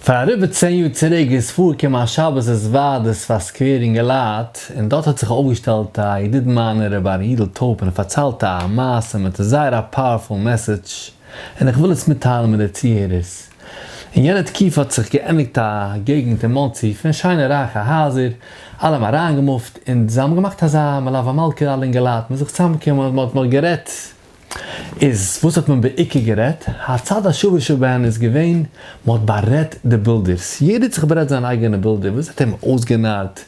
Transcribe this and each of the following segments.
פאר אריבער צען יאר צוריק איז פארגעקומען א שבת התוועדות פאר סקווער אינגעלייט, און דארט האט זיך אויפגעשטעלט א ידיד מיינער רבי ארי' יודל טויב און ער פארציילט א מעשה מיט א זייער א פאוערפול מעסעדזש, און איך וויל עס מיטטיילן מיט די צוהערערס. אין יענע תקופה האט זיך געענדיגט א געגנט אין מאנסי פון שיינע רייכע הייזער, אלע האבן אריינגעמופט, און זיי האבן געמאכט אזא מלוה מלכה אלע אינגעלייט מוזן זיך צוזאמקומען, מען האט נאך גערעדט, איז וואס האט מען בעיקר גערעדט? הצד השווה שבהן איז געווען מען האט בארעדט די בילדערס, יעדער האט זיך בארעדט זיין אייגענע בילדער, וואס האט אים אויסגענארט,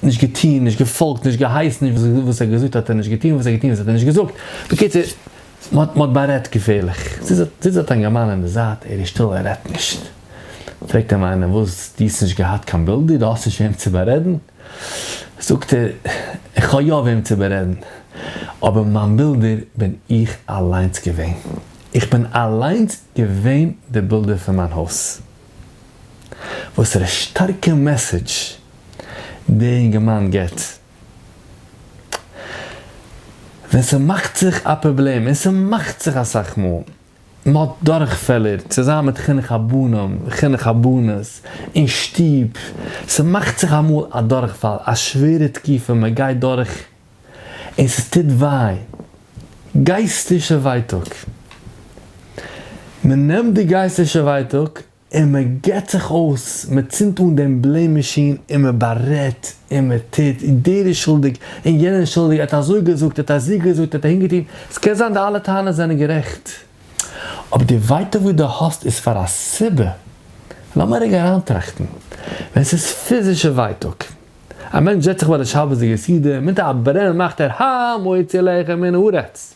נישט געטון, נישט געפאלגט, נישט געהייסן, וואס ער האט געזאגט האט ער נישט געטון, וואס ער האט געטון וואס האט ער נישט געזאגט, בקיצור מען האט בארעדט געפערליך, זיס האט אים געמאן אין די זייט, ער איז שטיל ער רעדט נישט, פרעגט אים איינער וואס דו האסט נישט געהאט קיין בילדער, דו האסט נישט וועם צו בארעדן? זאגט ער, איך האב יא וועם צו בארעדן, אבער מיין בילדער בין איך אליינס געווען, איך בין אליינס געווען די בילדער פון מיין הויז. וואסערע שטארקע מעסעדזש דער אינגערמאן גיבט, ווען ס'מאכט זיך א פראבלעם, און ס'מאכט זיך אסאך מאל, מען האט דורכפעלער צוזאמען מיט חינוך הבנים וחינוך הבנות אין שטוב, ס'מאכט זיך אמאל א דורכפאל, א שווערע תקופה מען גייט דורך און ס'טוט וויי, גייסטישע ווייטאג, מען נעמט די גייסטישע ווייטאג און מען געט זיך אויס, מען צינדט אן דעם בלעם מאשין און מען בארעדט און מען טוט, דער איז שולדיג און יענער איז שולדיג, ער האט אזוי געזאגט, ער האט אזי געזאגט, ער האט אהין געטון, עס קען זיין די אלע טענות זענען גערעכט, אבער די ווייטאג וואס דו האסט איז פאר א סיבה, לאמיר רגע אריינטראכטן, ווען עס איז פיזישע ווייטאג, א מענטש זעצט זיך ביי די שבת די יסודי, מיט א ברען מאכט ער הא מוציא לחם מן הארץ,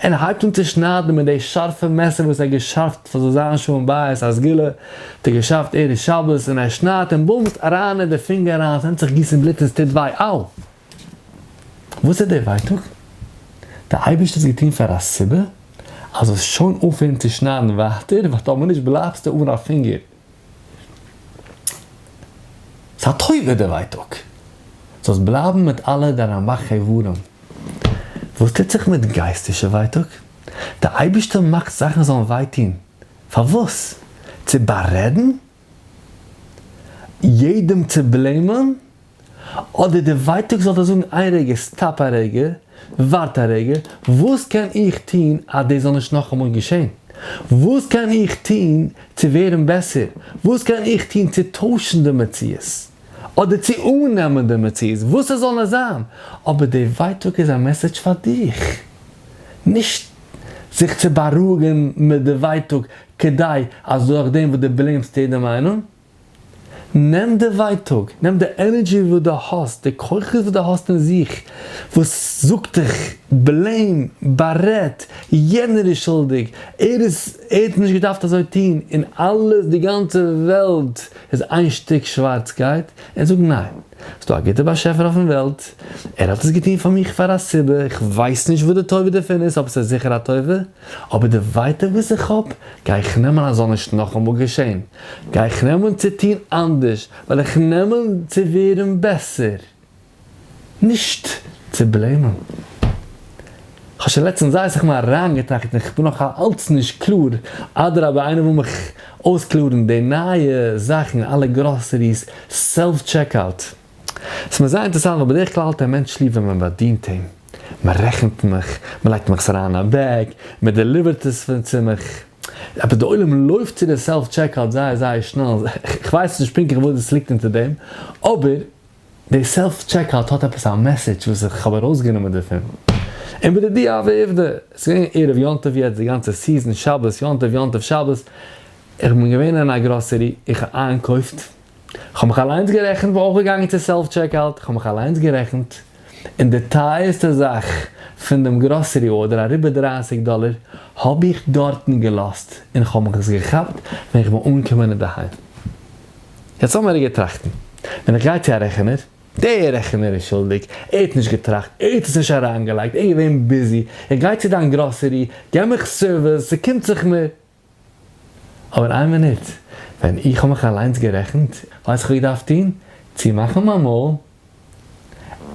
ער הייבט אן צו שניידן מיט די שארפע מעסער וואס ער האט געשארפט פאר זאל זיין שלום בית א סגולה האט ער געשארפט ערב שבת און ער שניידט און בומס אריין אין די פינגער אריין ס'נעמט זיך גיסן בלוט און ס'טוט וויי אאו! וואס איז די ווייטאג? די אייבערשטער האט עס געטון פאר א סיבה אז זאלסט שוין אויפהערן צו שניידן ווייטער ווייל טאמער נישט בלייבסטו אן א פינגער. ס'טובה די ווייטאג. זאלסט בלייבן מיט אלע דיינע רמח איברים. וואס טוט זיך מיט גייסטישע ווייטאג? די אייבישטער מאכט זאכן זאלן וויי טון. פארוואס? צו בארעדן? יעדעם צו בלעימען? אדער די ווייטאג זאל דיר זאגן איין רגע סטאפ א רגע, ווארט א רגע, וואס קען איך טון אז דאס זאל נישט נאכאמאל געשען? וואס קען איך טון צו ווערן בעסער? וואס קען איך טון צו טוישן די מציאות? אדער צו אננעמען די מציאות וואס עס זאל נאר זיין, אבער די ווייטאג איז א מעסעדזש פאר דיך, נישט זיך צו בארואיגן מיט די ווייטאג כדי אז דורכדעם וואס דו בלעימסט יעדע מיינונג, נעם די ווייטאג, נעם די ענערדזשי וואס דו האסט, די כוחות וואס דו האסט אין זיך, וואס זאגט דיך בלעים, בארעד, יענער איז שולדיג, ער איז, ער האט נישט געדארפט אזוי טון, און אלעס, די גאנצע וועלט איז איין שטיק שווארצקייט, און זאג ניין, ס'איז דא א גוטער באשעפער אויפן וועלט, ער האט עס געטון פאר מיך פאר א סיבה, איך ווייס נישט וואס די טובה דערפון איז, אבער ס'איז זיכער א טובה, אבער די ווייטאג וואס איך האב גיי איך נעמען אז זאל נישט נאכאמאל געשען, גיי איך נעמען צו טון אנדערש, וועל איך נעמען צו ווערן בעסער, נישט צו בלעימען. איך האב שוין לעצטענס זייער אסאך מאל אריינגעטראכט און כ'בין נאך אלץ נישט קלאר, אדרבה איינער וויל מיך אויסקלארן די נייע זאכן אלע גראסעריס סעלף טשעק אוט? ס'איז מיר זייער אינטערעסאנט ווייל בדרך כלל האט א מענטש ליב ווען מען באדינט אים, מען רעכנט מיך, מען לייגט מיך עס אריין אין א בעג, מען דעליווערט עס צו מיך, אבער דער עולם לויפט צו די סעלף טשעקאוט זייער זייער שנעל, כ'ווייס נישט פונקטליך וואס דאס ליגט אונטער דעם, אבער די סעלף טשעקאוט האט עפעס א מעסעדזש וואס איך האב ארויסגענומען דערפון. און בדידי הווי עובדא, עס איז געווען ערב יום טוב יעצט די גאנצע סיזען, שבת יום טוב יום טוב שבת, איך בין געווען אין א גראסערי, איך האב איינגעקויפט, כ'האב מיך אליינס גערעכנט, בין אויך געגאנגען צו סעלף טשעקאוט, כ'האב מיך אליינס גערעכנט, און די טייערסטע זאך פון דעם גראסערי ארדער, אריבער דרײַסיק דאלער, האב איך דארטן געלאזט, און כ'האב מיך עס געכאפט ווען איך בין אנגעקומען אינדערהיים. יעצט לאמיר רגע טראכטן, ווען איך גיי צו א רעכענער, דער רעכענער איז שולדיג, ער האט נישט געטראכט, ער האט עס נישט אריינגעלייגט, ער איז געווען ביזי, איך גיי צו דיין גראסערי, געב מיך סערוויס, ס'קומט זיך מיר, אבער איין מינוט, ווען איך האב מיך אליינס גערעכנט, ווייס איך וואס איך דארף טון, צומאכן מיין מויל,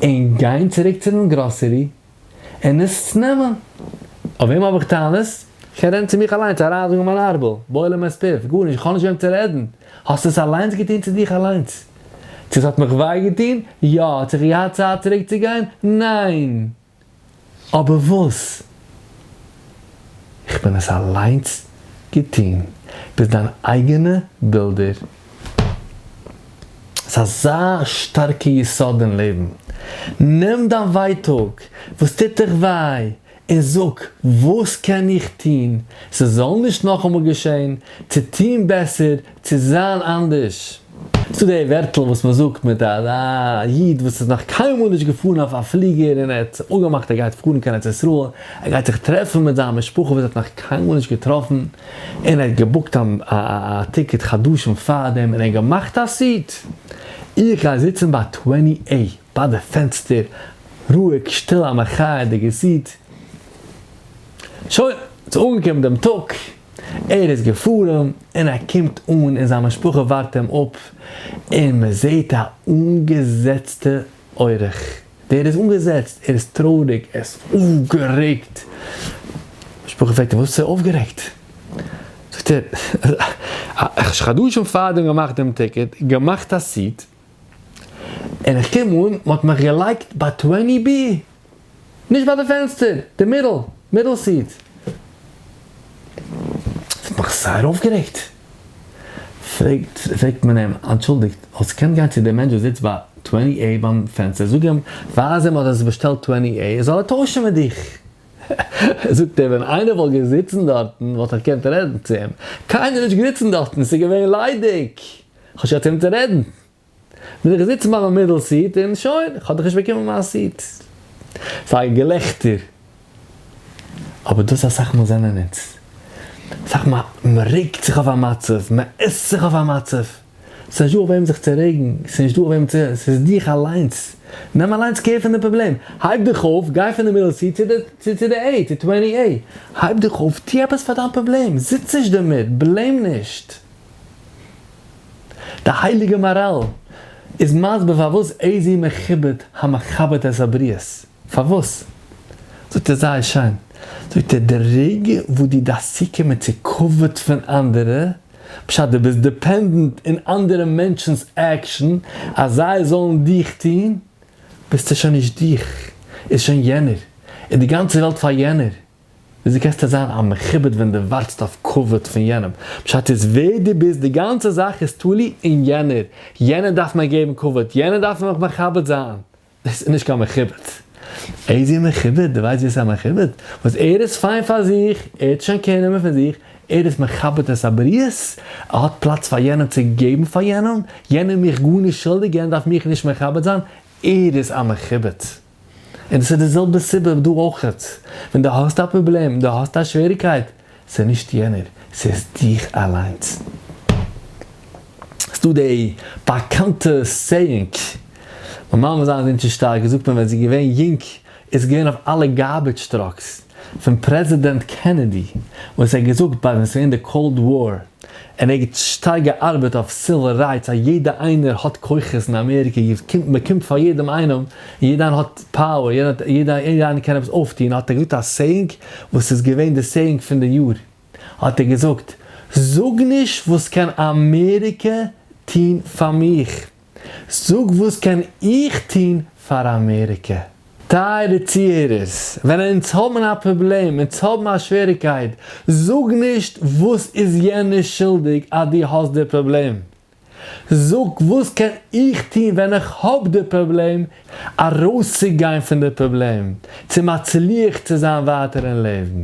און גיין צוריק צו דעם גראסערי, און עס נעמען. אויף וועם האב איך טענות? כ'קען רעדן צו מיך אליינס, אריינזאגן מיין ארבל, בולם את פיו, גארנישט, איך האב נישט וועם צו רעדן. האסט עס אליינס געטון צו דיך אליינס. צו עס האט מיך וויי געטון? יא. צו כ'האב געהאט צייט צוריק צו גיין? ניין. אבער וואס? איך בין עס אליינס געטון, ביסט דיין אייגענע בילדער. ס'איז אזא שטארקע יסוד אין לעבן. נעם דיין ווייטאג, וואס טוט דיך וויי, און זאג, וואס קען איך טון ס'זאל נישט נאכאמאל געשען, צו טון בעסער צו זיין אנדערש. ס'דא די ווערטל וואס מען זאגט מיט א איד וואס איז נאך קיינמאל נישט געפארן אויף א פליגער און ער האט זיך אפגעמאכט ער גייט פארן קיין ארץ ישראל, ער גייט זיך טרעפן מיט זיין משפחה וואס ער האט נאך קיינמאל נישט געטראפן, און ער האט געבוקט א טיקעט חדשים פארדעם און ער האט געמאכט א סוט, איך גיי זיצן ביי טוועני עי. ביי די פענסטער, רואיג, שטיל א מחיה די געזיט. שוין, ס'איז אנגעקומען דעם טאג. ער איז געפארן, און ער קומט אן און זיין משפחה ווארט אים אפ, און מען זעט א אנגעזעצטע אורח. ווער איז אנגעזעצט? ער איז טרויעריג, ער איז אויפגערעגט. משפחה פרעגט אים, וואס איז אויפגערעגט? זאגט ער, איך האב שוין חדשים פארדעם געמאכט דעם טיקעט, געמאכט א סיט, און איך קום אן, מען האט מיך געלייגט ביי טוועני בי, נישט ביי די פענסטער, די מידל, מידל סיעט. עס האט מיך זייער אויפגערעגט. פרעגט, פרעגט מען אים, אנטשולדיגט, האסט געקענט גיין צו דעם מענטש וואס זיצט ביי טוועני עי ביים פענסטער, זאג אים, ווייז אים אז עס איז באשטעלט טוועני עי, זאל ער טוישן מיט דיך. זאגט ער, ווען איינער וואלט געזיצן דארטן, וואלט איך געקענט רעדן צו אים. קיינער איז נישט געזיצן דארטן, עס איז געווען ליידיג. כ'האב שוין אצינד צו רעדן. בין איך געזיצן ביי מיין מידל סיעט און שוין, כ'האב דאך נישט באקומען מיין סיעט. ס'איז געלעכטער. אבער דאס אסאך מאל זענען אונז. אסאך מאל מ'רעגט זיך אויף א מצב, מ'עסט זיך אויף א מצב. ס'איז נישט דא אויף וועם זיך צו רעגן, ס'איז נישט דא אויף וועם צו, ס'איז דיך אליינס. נעם אליינס קער פון די פראבלעם. הייב דיך אויף, גיי פון די מידל סיעט צו די, צו די עי, צו טווענטי עי. הייב דיך אויף, טו עפעס פאר דיין פראבלעם. זיץ נישט דערמיט, בלעים נישט. די הייליגע מהרל איז מסביר פארוואס איזהי מכובד המכבד את הבריות, פארוואס? זאגט ער זייער שיין, זאגט ער, די רגע וואס דו דארפסט צוקומען צו כבוד פון אנדערע, בשעת דו ביסט דיפענדענט אין אנדערע מענטשן'ס עקשן אז זיי זאלן דיך טון, ביסטו שוין נישט דיך, איז שוין יענער, איז די גאנצע וועלט פאר יענער. ווי אזוי קענסטו זיין א מכובד ווען דו ווארטסט אויף כבוד פון יענעם? פשט איז ווער דו ביסט, די גאנצע זאך איז תלוי אין יענער, יענער דארף מיר געבן כבוד, יענער דארף מיך מכבד זיין, דאס איז נישט קיין מכובד. איזה מכובד? דו ווייסט ווער ס'איז א מכובד? וואס ער איז פיין פאר זיך, ער האט שוין קער נעמען פון זיך, ער איז מכבד את הבריות, ער האט פלאץ פאר יענעם צו געבן פאר יענעם, יענער מיך גארנישט שולדיג, יענער דארף מיך נישט מכבד זיין, ער איז א מכובד. און עס איז די זעלבע סיבה דא אויכעט, ווען דו האסט א פראבלעם, דו האסט א שוועריקייט, ס'איז נישט יענער, ס'איז דיך אליינס. ס'דא די באקאנטע סעיאינג, מיין מאמע זיין זינט שוין שטארק זאגט מען ווען זי איז געווען יונג איז געווען אויף אלע גארבעדזש טראקס פון פרעזידענט קענעדי וואס ער האט געזאגט ביי ווען ס'איז געווען די קאלד וואר, און ער האט שטארק געארבעט אויף סיוויל רייטס אז יעדע איינער האט כוחות אין אמעריקע מען קומט פאר יעדעם איינעם און יעדע איינער האט פאוער יעדע איינער קען עפעס אויפטוהן האט ער געזאגט א סעיאינג וואס איז געווען די סעיאינג פון די יאר האט ער געזאגט זאג נישט וואס קען אמעריקע טוהן פאר מיך. זאג וואס קען איך טון פאר אמעריקע? טייערע צוהערערס, ווען אונז האבן א פראבלעם, אונז האבן א שוועריגקייט, זאג נישט וואס איז יענער שולדיג אז דו האסט די פראבלעם. זאג וואס קען איך טון ווען איך האב די פראבלעם ארויסצוגיין פון די פראבלעם, צו מצליח צו זיין ווייטער אין לעבן.